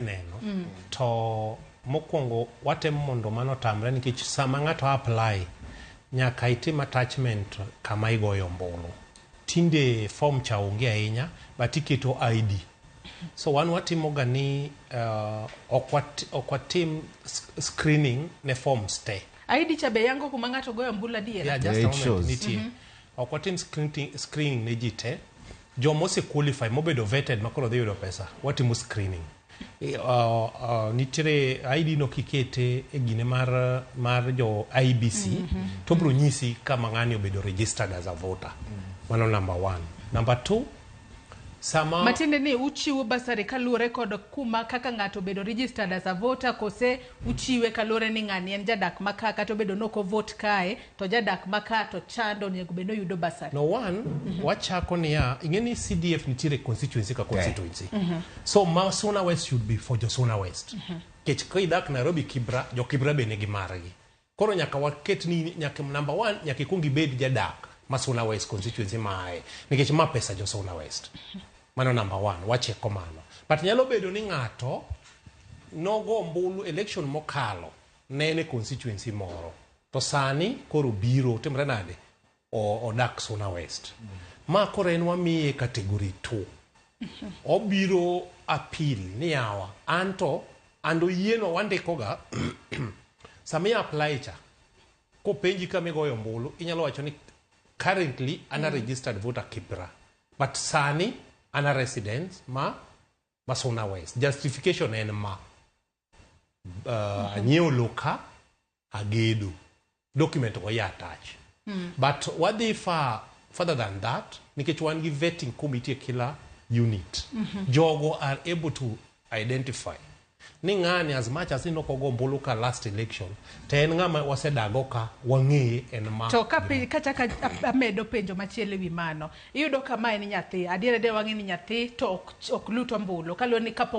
neno mm. to mokwongo watemo mondo mano otamre nikech sama ng'ato apply nyaka itim attachment kama igoyo ombulu tinde form cha onge ahinya but iketo id so wan watimoga ni uh, ok watim screening ne forms te id cha be yango kuma ng'ato goyo ombulu adier yeah, just yeah, a moment nitie mm -hmm. ok watim screening ne ji te Joma ose qualify mobedo vetted ma koro dhi yudo pesa, watimo screening. Nitiere ID no kikete e gine mar mar jo IBC mm -hmm. to bro nyisi kama ng'ani obedo registered as a voter. Mm -hmm. Mano number one. Number two, sama matiende ni uchiwo basari kaluwore kod kuma kaka ng'ato obedo registered as a voter kose Uchiwe kaluwore ni ng'ani en jadak ma ka kata obedo ni ok o vote kae to ojadak ma ka to chande onego bed ni oyudo bursary. No one wachako niya ing'e ni CDF nitiere constituency ka constituency. So ma Suna West should be for jo Suna West. Kech ka idak Nairobi Kibra, jo Kibra be nigi margi. Koro nyaka waket ni nyaka number one nyaka ikwong ibed jadak ma Suna West constituency maaye nikech ma pesa jo Suna West. Mano number one, wacheko mano. But nyalo bedo ni ng'ato nogo ombulu election mokalo ne en e constituency moro to sani koro biro timre nade? odak Suna West. Ma koro en wamiye category 2. Obiro appeal ni yawa anto and oyieno wandikoga sami apply cha kopenji kama igoyo ombulu inyalo wacho ni currently an a mm. registered voter Kibra but sani an a resident ma ma Suna West. Justification en ma uh, anyiewo low ka agedo document go ya attach mm. but wadhi far further than that nikech wan gi vetting committee kila unit mm -hmm. jogo are able to identify ni ng'ani as much as inoko gombulu ka last election to en ng'ama wasedago ka wang'eye en ma to ka kachaka amedo penjo machielo ewi mano iyudo kama en nyathi adier adier wang'e ni nyathi to ok, ok lut ombulu kaluwore ni kapo